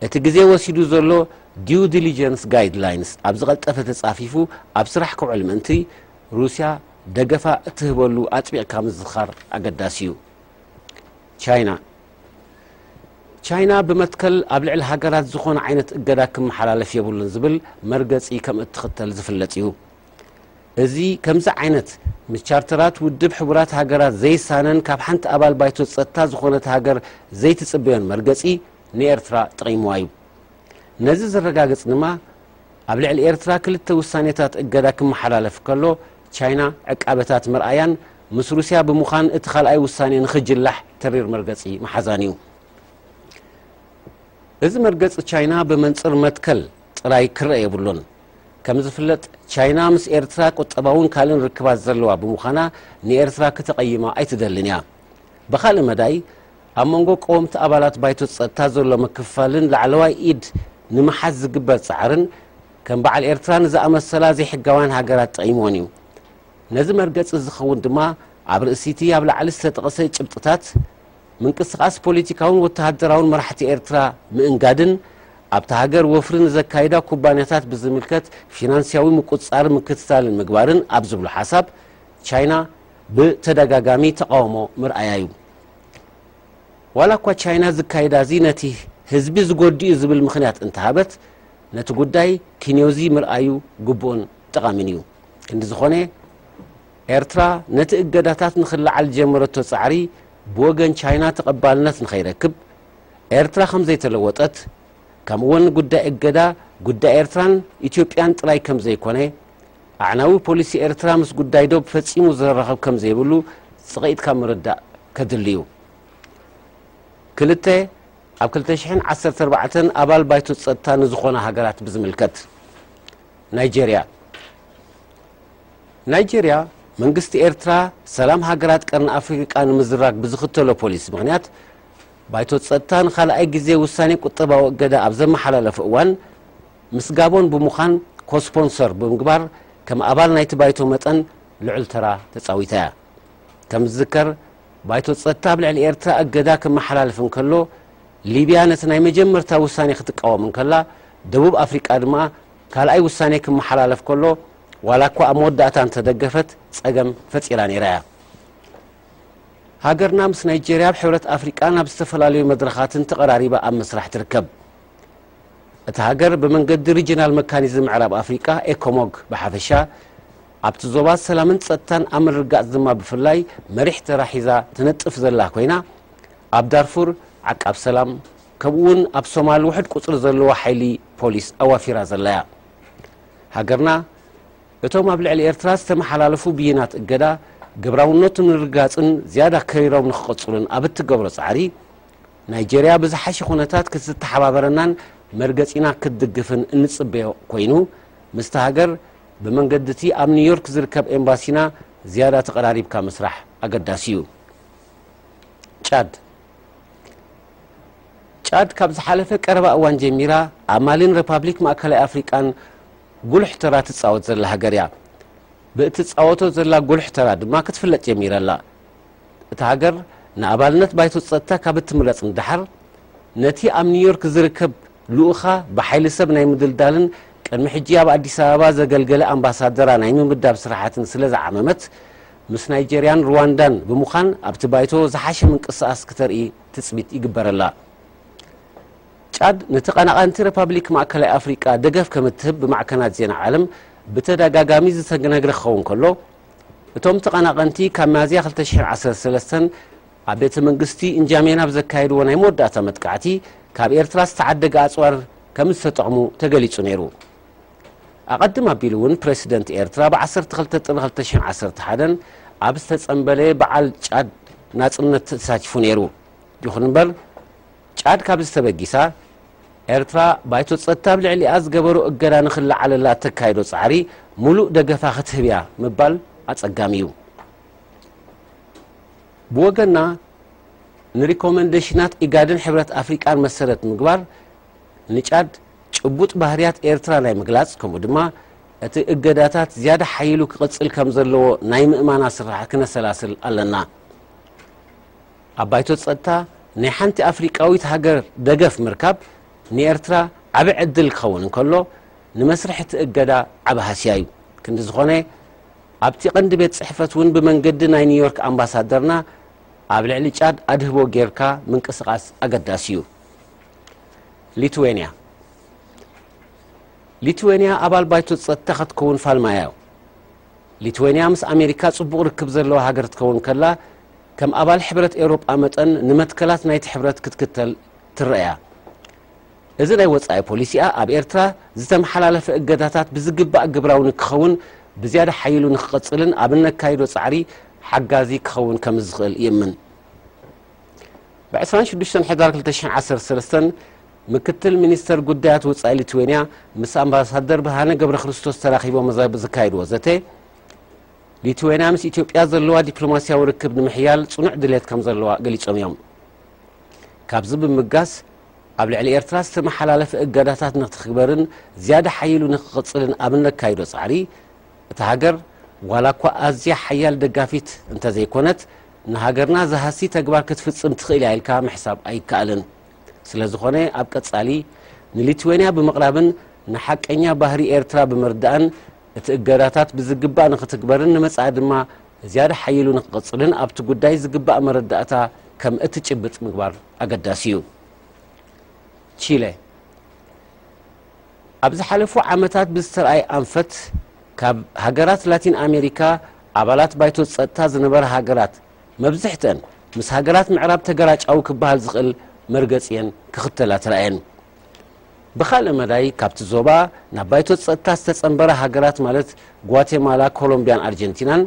እቲ ግዜ ወሲዱ ዘሎ ዲው ዲሊጀንስ ጋይድላይንስ ኣብ ዝቐልጠፈ ተጻፊፉ ኣብ ስራሕ ክውዕል ምእንቲ፣ ሩስያ ደገፋ እትህበሉ ኣጽቢቕካ ምዝኻር ኣገዳሲ እዩ። ቻይና ቻይና ብመትከል ኣብ ልዕሊ ሃገራት ዝኾነ ዓይነት እገዳ ክመሓላለፍ የብሉን ዝብል መርገጺ ከም እትኽተል ዝፍለጥ እዩ። እዚ ከምዚ ዓይነት ምስ ቻርተራት ውድብ ሕቡራት ሃገራት ዘይሳነን ካብ ሓንቲ ኣባል ባይቶ ጸጥታ ዝኾነት ሃገር ዘይትጽበዮን መርገጺ ንኤርትራ ጠቒምዋ እዩ። ነዚ ዘረጋግጽ ድማ ኣብ ልዕሊ ኤርትራ ክልተ ውሳኔታት እገዳ ክመሓላለፍ ከሎ፣ ቻይና ዕቃበታት ምርኣያን ምስ ሩስያ ብምዃን እቲ ካልኣይ ውሳኔ ንኽጅላሕ ተሪር መርገጺ ምሓዛን እዩ። እዚ መርገጺ ቻይና ብመንጽር መትከል ጥራይ ክረኣ የብሉን። ከም ዝፍለጥ ቻይና ምስ ኤርትራ ቁጠባውን ካልእን ርክባት ዘለዋ ብምዃና ንኤርትራ ክተቐይማ ኣይትደልን እያ። ብኻልእ መዳይ ኣብ መንጎ ቀወምቲ ኣባላት ባይቶ ጸጥታ ዘሎ ምክፍፋልን ላዕለዋይ ኢድ ንምሓዝ ዝግበር ጻዕርን ከም በዓል ኤርትራ ንዝኣመሰላ ዘይሕጋውያን ሃገራት ጠቒምወን እዩ። ነዚ መርገጺ ዝኸውን ድማ ኣብ ርእሲ'ቲ ኣብ ላዕሊ ዝተጠቕሰ ጭብጥታት ምንቅስቓስ ፖሊቲካውን ወተሃደራውን መራሕቲ ኤርትራ ምእንጋድን ኣብታ ሃገር ወፍሪ ንዘካይዳ ኩባንያታት ብዝምልከት ፊናንስያዊ ምቁጽጻርን ምክትታልን ምግባርን ኣብ ዝብሉ ሓሳብ ቻይና ብተደጋጋሚ ተቓውሞ ምርኣያ እዩ። ዋላ እኳ ቻይና እዚ ኣካይዳ እዚ ነቲ ህዝቢ ዝጎድእ እዩ ዝብል ምኽንያት እንተሃበት፣ ነቲ ጉዳይ ኪንዮ'ዚ ምርኣዩ ግቡእን ጠቓሚን እዩ። ክንዲ ዝኾነ፣ ኤርትራ ነቲ እገዳታት ንኽለዓል ዝጀመረቶ ጻዕሪ ብወገን ቻይና ተቐባልነት ንኸይረክብ፣ ኤርትራ ከም ዘይተለወጠት፣ ከምኡ'ውን ጉዳይ እገዳ ጉዳይ ኤርትራን ኢትዮጵያን ጥራይ ከም ዘይኮነ ኣዕናዊ ፖሊሲ ኤርትራ ምስ ጉዳይ ዶብ ፈጺሙ ዝረራኸብ ከም ዘይብሉ ጽቕኢትካ ምርዳእ ከድሊ እዩ። ክልተ፣ ኣብ ክልተ ሽሕን ዓሰርተ ኣርባዕተን ኣባል ባይቶ ጸጥታ ንዝኾና ሃገራት ብዝምልከት፣ ናይጀርያ፣ ናይጀርያ፣ መንግስቲ ኤርትራ ሰላም ሃገራት ቀርኒ ኣፍሪቃ ንምዝራግ ብዝኽተሎ ፖሊሲ ምኽንያት፣ ባይቶ ጸጥታ ንኻልኣይ ግዜ ውሳኔ ቁጠባዊ እገዳ ኣብ ዘመሓላለፎ እዋን፣ ምስ ጋቦን ብምዃን ኮስፖንሰር ብምግባር ከም ኣባል ናይቲ ባይቶ መጠን ልዑል ተራ ተጻዊታ እያ። ከም ዝዝከር ባይቶ ጸጥታ ኣብ ልዕሊ ኤርትራ እገዳ ከመሓላልፍ እንከሎ ሊብያ ነቲ ናይ መጀመርታ ውሳኔ ክትቃወም እንከላ ደቡብ ኣፍሪቃ ድማ ካልኣይ ውሳኔ ክመሓላለፍ ከሎ ዋላ እኳ ኣብ መወዳእታ እንተደገፈት ጸገም ፈጢራ ነይራ እያ። ሃገርና ምስ ናይጀርያ ኣብ ሕብረት ኣፍሪቃን ኣብ ዝተፈላለዩ መድረኻትን ተቐራሪባ ኣብ ምስራሕ ትርከብ። እታ ሃገር ብመንገዲ ሪጅናል መካኒዝም ምዕራብ ኣፍሪቃ ኤኮሞግ ብሓፈሻ ኣብቲ ዞባ ሰላምን ጸጥታን ኣብ ምርግጋጽ ድማ ብፍላይ መሪሕ ተራ ሒዛ ትነጥፍ ዘላ ኮይና ኣብ ዳርፉር ዓቃብ ሰላም ከምኡ'ውን ኣብ ሶማል ውሕድ ቁጽሪ ዘለዎ ሓይሊ ፖሊስ ኣዋፊራ ዘላ እያ። ሃገርና እቶም ኣብ ልዕሊ ኤርትራ ዝተመሓላለፉ ብይናት እገዳ ግብራውነቱ ንርግጋጽን ዝያዳ ከሪሮም ንክቕጽሉን ኣብ እትገብሮ ጻዕሪ ናይጀርያ ብዝሓሸ ኩነታት ክትተሓባበረናን መርገጺና ክትድግፍን እንጽበዮ ኮይኑ፣ ምስታ ሃገር ብመንገዲ'ቲ ኣብ ኒውዮርክ ዝርከብ ኤምባሲና ዝያዳ ተቐራሪብካ ምስራሕ ኣገዳሲ'ዩ። ጫድ ጫድ ካብ ዝሓለፈ ቀረባ እዋን ጀሚራ ኣብ ማሊን ረፓብሊክ ማእከላይ ኣፍሪቃን ጉሉሕ ተራ ትጻወት ዘላ ሃገር እያ። ብእትጻወቶ ዘላ ጉሉሕ ተራ ድማ ክትፍለጥ ጀሚራ ኣላ። እታ ሃገር ንኣባልነት ባይቶ ጸጥታ ካብ እትምረጽ ንደሓር፣ ነቲ ኣብ ኒውዮርክ ዝርከብ ልኡኻ ብሓይሊ ሰብ ናይ ምድልዳልን ቅድሚ ሕጂ ኣብ ኣዲስ ኣበባ ዘገልገለ ኣምባሳደራ ናይ ምምዳብ ስራሓትን ስለ ዝዓመመት፣ ምስ ናይጀርያን ሩዋንዳን ብምዃን ኣብቲ ባይቶ ዝሓሸ ምንቅስቓስ ክተርኢ ትጽቢት ይግበረላ። ጫድ ንተቐናቓንቲ ረፓብሊክ ማእከላይ ኣፍሪቃ ደገፍ ከም እትህብ ብማዕከናት ዜና ዓለም ብተደጋጋሚ ዝተነግረ ክኸውን ከሎ፣ እቶም ተቐናቐንቲ ካብ ሚያዝያ ክልተ ሽሕን ዓሰርተ ሰለስተን ኣብ ቤተ መንግስቲ እንጃሜና ኣብ ዘካየድዎ ናይ መወዳእታ መጥቃዕቲ ካብ ኤርትራ ዝተዓደገ ኣጽዋር ከም ዝተጠቕሙ ተገሊጹ ነይሩ። ኣቐድም ኣቢሉ እውን ፕረሲደንት ኤርትራ ብ ዓሰርተ ክልተ ጥሪ ክልተ ሽሕን ዓሰርተ ሓደን ኣብ ዝተጸምበለ በዓል ጫድ ናጽነት ተሳቲፉ ነይሩ። ይኹን እምበር ጫድ ካብዚ ተበጊሳ፣ ኤርትራ ባይቶ ጸጥታ ኣብ ልዕሊኣ ዝገበሮ እገዳ ንኽለዓለላ እተካይዶ ጻዕሪ ምሉእ ደገፋ ክትህብ እያ ምባል ኣጸጋሚ እዩ። ብወገና ንሪኮመንደሽናት ኢጋድን ሕብረት ኣፍሪቃን መሰረት ምግባር ንጫድ ጭቡጥ ባህርያት ኤርትራ ናይ ምግላጽ ከምኡ ድማ እቲ እገዳታት ዝያዳ ሓዪሉ ክቕጽል ከምዘለዎ ናይ ምእማና ስርሓት ክነሰላስል ኣለና። ኣብ ባይቶ ጸጥታ ናይ ሓንቲ ኣፍሪቃዊት ሃገር ደገፍ ምርካብ ንኤርትራ ዓቢ ዕድል ክኸውን እንከሎ፣ ንመስርሕ እቲ እገዳ ዓቢ ሃስያ እዩ። ክንዲ ዝኾነ፣ ኣብቲ ቀንዲ ቤት ጽሕፈት እውን ብመንገዲ ናይ ኒውዮርክ ኣምባሳደርና ኣብ ልዕሊ ጫድ ኣድህቦ ጌርካ ምንቅስቓስ ኣገዳሲ እዩ። ሊትዌንያ ሊትዌንያ ኣባል ባይቶ ጸጥታ ክትከውን ፋልማያ እዩ። ሊትዌንያ ምስ ኣሜሪካ ጽቡቕ ርክብ ዘለዋ ሃገር ክትከውን ከላ፣ ከም ኣባል ሕብረት ኤውሮጳ መጠን ንመትከላት ናይቲ ሕብረት ክትክተል ትረኣ'ያ። እዚ ናይ ወጻኢ ፖሊሲኣ ኣብ ኤርትራ ዝተመሓላለፈ እገዳታት ብዝግባእ ግብራዊ ንክኸውን ብዝያዳ ሓዪሉ ንክቕጽልን ኣብ እነካይዶ ጻዕሪ ሓጋዚ ክኸውን ከምዝኽእል ይእምን። ብ ዕስራን ሽዱሽተን ሕዳር ክልተ ሽሕን ዓሰርተ ሰለስተን ምክትል ሚኒስተር ጉዳያት ወጻኢ ሊትዌንያ ምስ ኣምባሳደር ብርሃነ ገብረክርስቶስ ተራኺቦም ዘካይድዎ ዘተ፣ ሊትዌንያ ምስ ኢትዮጵያ ዘለዋ ዲፕሎማስያዊ ርክብ ንምሕያል ጽኑዕ ድሌት ከም ዘለዋ ገሊጾም እዮም። ካብዚ ብምብጋስ ኣብ ልዕሊ ኤርትራ ዝተመሓላለፈ እገዳታት ንክትግበርን ዝያዳ ሓዪሉ ንክቕጽልን ኣብ እነካይዶ ጻዕሪ እታ ሃገር ዋላ እኳ ኣዝያ ሓያል ደጋፊት እንተዘይኮነት ንሃገርና ዝሃሲ ተግባር ክትፍጽም ትኽእል እያ ኢልካ ምሕሳብ ኣይከኣልን። ስለዝኾነ ኣብ ቀጻሊ ንሊትዌንያ ብምቕራብን ንሓቀኛ ባህሪ ኤርትራ ብምርዳእን እቲ እገዳታት ብዝግባእ ንኽትግበርን ንመጻኢ ድማ ዝያዳ ሓዪሉ ንኽቕጽልን ኣብቲ ጉዳይ ዝግባእ መረዳእታ ከም እትጭብጥ ምግባር ኣገዳሲ እዩ። ቺለ፣ ኣብ ዝሓለፉ ዓመታት ብዝተርኣየ ኣንፈት ካብ ሃገራት ላቲን ኣሜሪካ ኣባላት ባይቶ ጸጥታ ዝነበራ ሃገራት መብዝሕትአን ምስ ሃገራት ምዕራብ ተገራጫዊ ክበሃል ዝኽእል መርገጺ እየን ክኽተላ ተራእየን። ብኻልእ መዳይ ካብቲ ዞባ ናብ ባይቶ ጸጥታ ዝተጸንበራ ሃገራት ማለት ጓቴማላ፣ ኮሎምብያን ኣርጀንቲናን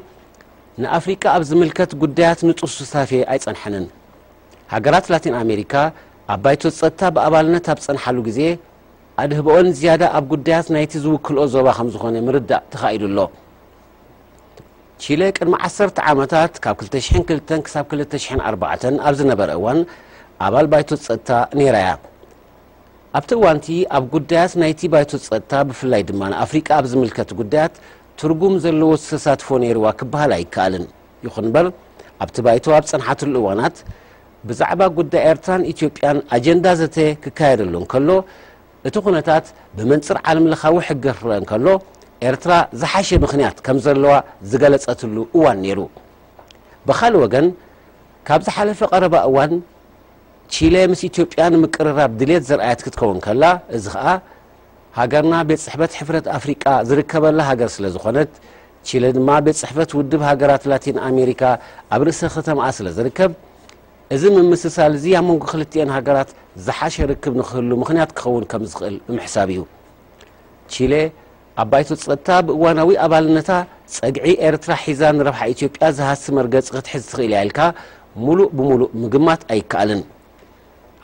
ንኣፍሪቃ ኣብ ዝምልከት ጉዳያት ንጡፍ ሱታፌ ኣይጸንሐንን። ሃገራት ላቲን ኣሜሪካ ኣብ ባይቶ ጸጥታ ብኣባልነት ኣብ ዝጸንሓሉ ግዜ ኣድህበኦን ዝያዳ ኣብ ጉዳያት ናይቲ ዝውክልኦ ዞባ ከምዝኾነ ምርዳእ ተኻኢሉ ኣሎ። ቺለ ቅድሚ ዓሰርተ ዓመታት ካብ ክልተ ሽሕን ክልተን ክሳብ ክልተ ሽሕን ኣርባዕተን ኣብ ዝነበረ እዋን ኣባል ባይቶ ጸጥታ ነይራ እያ። ኣብቲ እዋንቲ ኣብ ጉዳያት ናይቲ ባይቶ ጸጥታ ብፍላይ ድማ ንኣፍሪቃ ኣብ ዝምልከት ጉዳያት ትርጉም ዘለዎ ተሳትፎ ነይርዋ ክበሃል ኣይከኣልን። ይኹን እምበር ኣብቲ ባይቶ ኣብ ጸንሓትሉ እዋናት ብዛዕባ ጉዳይ ኤርትራን ኢትዮጵያን ኣጀንዳ ዘተ ክካየደሉ እንከሎ እቲ ኩነታት ብመንጽር ዓለምለኻዊ ሕጊ ክረኣ እንከሎ፣ ኤርትራ ዝሓሸ ምኽንያት ከም ዘለዋ ዝገለጸትሉ እዋን ነይሩ። ብኻልእ ወገን፣ ካብ ዝሓለፈ ቀረባ እዋን ቺለ ምስ ኢትዮጵያ ንምቅርራብ ድልየት ዘርኣየት ክትከውን ከላ፣ እዚ ከኣ ሃገርና ቤት ጽሕፈት ሕፍረት ኣፍሪቃ ዝርከበላ ሃገር ስለ ዝኾነት፣ ቺለ ድማ ቤት ጽሕፈት ውድብ ሃገራት ላቲን ኣሜሪካ ኣብ ርእሰ ከተማኣ ስለ ዝርከብ፣ እዚ ምምስሳል እዚ ኣብ መንጎ ክልቲኤን ሃገራት ዝሓሸ ርክብ ንክህሉ ምኽንያት ክኸውን ከም ዝኽእል ብምሕሳብ እዩ። ቺሌ ኣብ ባይቶ ጸጥታ ብእዋናዊ ኣባልነታ ጸግዒ ኤርትራ ሒዛ ንረብሓ ኢትዮጵያ ዝሃሲ መርገጺ ክትሕዝ ትኽእል እያ ኢልካ ምሉእ ብምሉእ ምግማት ኣይከኣልን።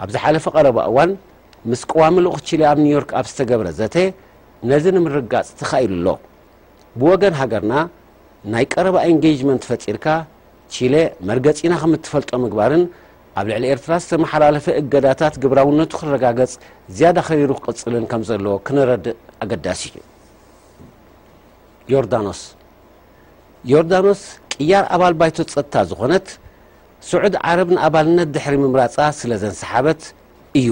ኣብ ዝሓለፈ ቀረባ እዋን ምስ ቀዋሚ ልኡኽ ቺሌ ኣብ ኒውዮርክ ኣብ ዝተገብረ ዘተ ነዚ ንምርግጋጽ ተኻኢሉ ኣሎ። ብወገን ሃገርና ናይ ቀረባ ኤንጌጅመንት ፈጢርካ ቺለ መርገጺና ከም እትፈልጦ ምግባርን ኣብ ልዕሊ ኤርትራ ዝተመሓላለፈ እገዳታት ግብራውነቱ ክረጋገጽ ዝያዳ ከቢሩ ክቕጽልን ከም ዘለዎ ክነረድእ ኣገዳሲ እዩ። ዮርዳኖስ ዮርዳኖስ ቅያር ኣባል ባይቶ ጸጥታ ዝኾነት ስዑድ ዓረብ ንኣባልነት ድሕሪ ምምራጻ ስለ ዘንሰሓበት እዩ።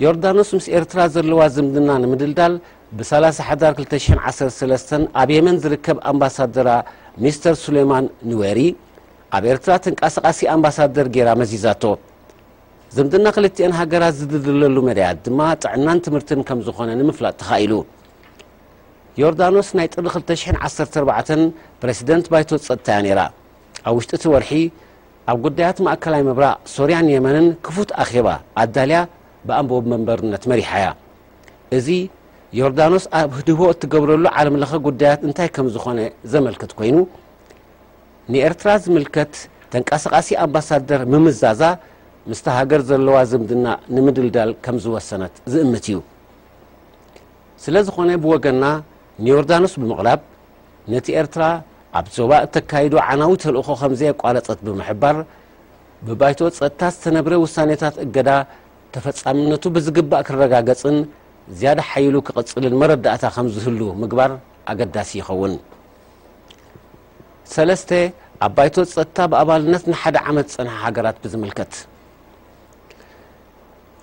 ዮርዳኖስ ምስ ኤርትራ ዘለዋ ዝምድና ንምድልዳል ብ ሰላሳ ሓዳር ክልተ ሽሕን ዓሰርተ ሰለስተን ኣብ የመን ዝርከብ ኣምባሳደራ ሚስተር ሱሌማን ኑዌሪ ኣብ ኤርትራ ተንቃሳቓሲ ኣምባሳደር ጌራ መዚዛቶ። ዝምድና ክልቲኤን ሃገራት ዝድልድለሉ መዳያት ድማ ጥዕናን ትምህርትን ከም ዝኾነ ንምፍላጥ ተኻኢሉ። ዮርዳኖስ ናይ ጥሪ ክልተ ሽሕን ዓሰርተ ኣርባዕተን ፕረሲደንት ባይቶ ጸጥታ'ያ ነይራ። ኣብ ውሽጢ'ቲ ወርሒ ኣብ ጉዳያት ማእከላይ ምብራቕ፣ ሶርያን የመንን ክፉት ኣኼባ ኣዳልያ ብኣንበወብ መንበርነት መሪሓ'ያ። እዚ፣ ዮርዳኖስ ኣብ ህድህቦ እትገብረሉ ዓለምለኸ ጉዳያት እንታይ ከም ዝኾነ ዘመልክት ኮይኑ፣ ንኤርትራ ዝምልከት ተንቀሳቓሲ ኣምባሳደር ምምዛዛ ምስታ ሃገር ዘለዋ ዝምድና ንምድልዳል ከም ዝወሰነት ዝእምት'ዩ። ስለዝኾነ ብወገንና ንዮርዳኖስ ብምቕራብ ነቲ ኤርትራ ኣብ ዞባ እተካይዶ ዓናዊ ተልእኾ ከምዘየቋረጸት ብምሕባር፣ ብባይቶ ጸጥታ ዝተነብረ ውሳኔታት እገዳ ተፈጻምነቱ ብዝግባእ ክረጋገጽን ዝያዳ ሓይሉ ክቕጽልን መረዳእታ ከምዝህሉ ምግባር ኣገዳሲ ይኸውን። ሰለስተ፣ ኣብ ባይቶ ጸጥታ ብኣባልነት ንሓደ ዓመት ዝጸንሓ ሃገራት ብዝምልከት፣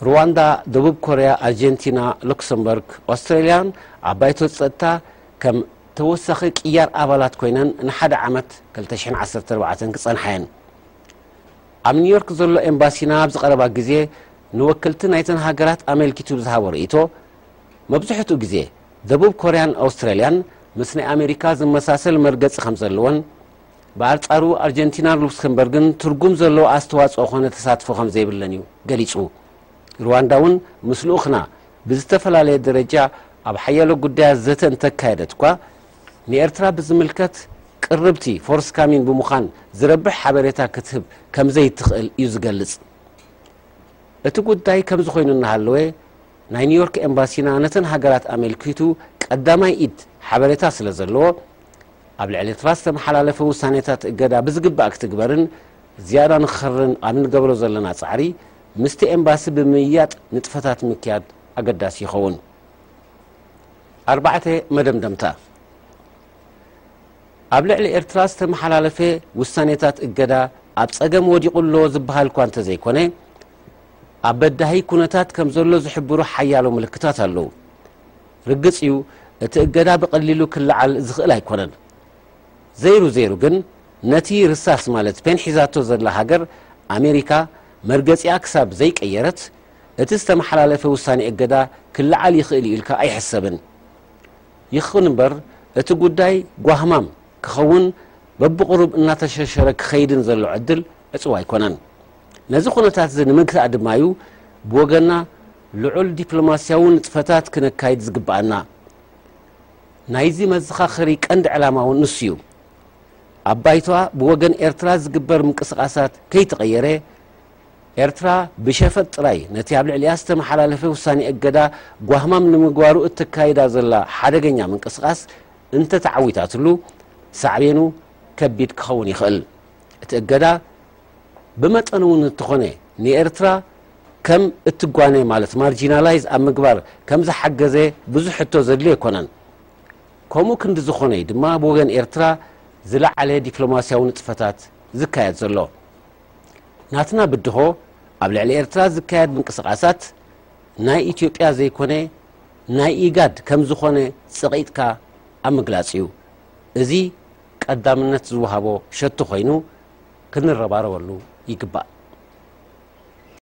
ሩዋንዳ፣ ደቡብ ኮርያ፣ ኣርጀንቲና፣ ሉክሰምበርግ፣ ኦስትራልያን ኣብ ባይቶ ጸጥታ ከም ተወሳኺ ቅያር ኣባላት ኮይነን ንሓደ ዓመት፣ ክልተ ሽሕን ዓሰርተ ኣርባዕተን፣ ክጸንሓ እየን። ኣብ ኒውዮርክ ዘሎ ኤምባሲና ኣብዚ ቀረባ ግዜ ንወከልቲ ናይተን ሃገራት ኣመልኪቱ ብዝሃቦ ርእይቶ፣ መብዝሕትኡ ግዜ ደቡብ ኮርያን ኣውስትራልያን ምስ ናይ ኣሜሪካ ዝመሳሰል መርገጺ ከም ዘለወን፣ ብኣርጻሩ ኣርጀንቲናን ሉክስክምበርግን ትርጉም ዘለዎ ኣስተዋጽኦ ኮነ ተሳትፎ ከም ዘይብለን እዩ ገሊጹ። ሩዋንዳ እውን ምስ ልኡኽና ብዝተፈላለየ ደረጃ ኣብ ሓያሎ ጉዳያት ዘተ እንተካየደት'ኳ፣ ንኤርትራ ብዝምልከት ቅርብቲ፣ ፎርስካሚን፣ ብምዃን ዝረብሕ ሓበሬታ ክትህብ ከምዘይትኽእል እዩ ዝገልጽ። እቲ ጉዳይ ከምዚ ኮይኑ እናሃለወ፣ ናይ ኒውዮርክ ኤምባሲና ነተን ሃገራት ኣመልኪቱ ቀዳማይ ኢድ ሓበሬታ ስለዘለዎ፣ ኣብ ልዕሊ ኤርትራ ዝተመሓላለፈ ውሳኔታት እገዳ ብዝግባእ ክትግበርን ዝያዳ ንክኸርርን ኣብ እንገብሮ ዘለና ጻዕሪ፣ ምስቲ ኤምባሲ ብምምይያጥ ንጥፈታት ምክያድ ኣገዳሲ ይኸውን። ኣርባዕተ፣ መደምደምታ ኣብ ልዕሊ ኤርትራ ዝተመሓላለፈ ውሳኔታት እገዳ ኣብ ጸገም ወዲቑ ኣሎ ዝበሃል'ኳ እንተዘይኮነ፣ ኣብ በዳሂ ኩነታት ከምዘሎ ዝሕብሩ ሓያሎ ምልክታት ኣለዉ። ርግጽ እዩ እቲ እገዳ ብቐሊሉ ክለዓል ዝኽእል ኣይኮነን። ዘይሩ ዘይሩ ግን ነቲ ርሳስ ማለት ፔን ሒዛቶ ዘላ ሃገር ኣሜሪካ፣ መርገጺኣ ክሳብ ዘይቀየረት እቲ ዝተመሓላለፈ ውሳኔ እገዳ ክለዓል ይኽእል እዩ ኢልካ ኣይሕሰብን። ይኹን እምበር እቲ ጉዳይ ጓህማም ክኸውን በብቑሩብ እናተሸርሸረ ክኸይድን ዘሎ ዕድል ዕጹው ኣይኮነን። ነዚ ኩነታት'ዚ ንምግታእ ድማ'ዩ ብወገንና ልዑል ዲፕሎማስያዊ ንጥፈታት ክነካይድ ዝግበኣና። ናይዚ መዘኻኸሪ ቀንዲ ዕላማ'ውን ንሱ'ዩ። ኣብ ባይቶኣ ብወገን ኤርትራ ዝግበር ምንቅስቓሳት ከይተቐየረ፣ ኤርትራ ብሸፈጥ ጥራይ ነቲ ኣብ ልዕሊኣ ዝተመሓላለፈ ውሳኔ እገዳ ጓህማም ንምግባሩ እተካይዳ ዘላ ሓደገኛ ምንቅስቓስ እንተተዓዊታትሉ ሳዕቤኑ ከቢድ ክኸውን ይኽእል። እቲ እገዳ ብመጠኑ'ውን እንተኾነ ንኤርትራ ከም እትጓነ ማለት ማርጂናላይዝ ኣብ ምግባር ከም ዝሓገዘ ብዙሕ ሕቶ ዘድልዮ ኣይኮነን። ከምኡ ክንዲ ዝኾነ እዩ ድማ ብ ወገን ኤርትራ ዝለዓለ ዲፕሎማስያዊ ንጥፈታት ዝካየድ ዘሎ። ናትና ብድሆ ኣብ ልዕሊ ኤርትራ ዝካየድ ምንቅስቓሳት ናይ ኢትዮጵያ ዘይኮነ ናይ ኢጋድ ከም ዝኾነ ጸቒጥካ ኣብ ምግላጽ እዩ። እዚ ቀዳምነት ዝወሃቦ ሸቶ ኮይኑ ክንረባረበሉ ይግባእ።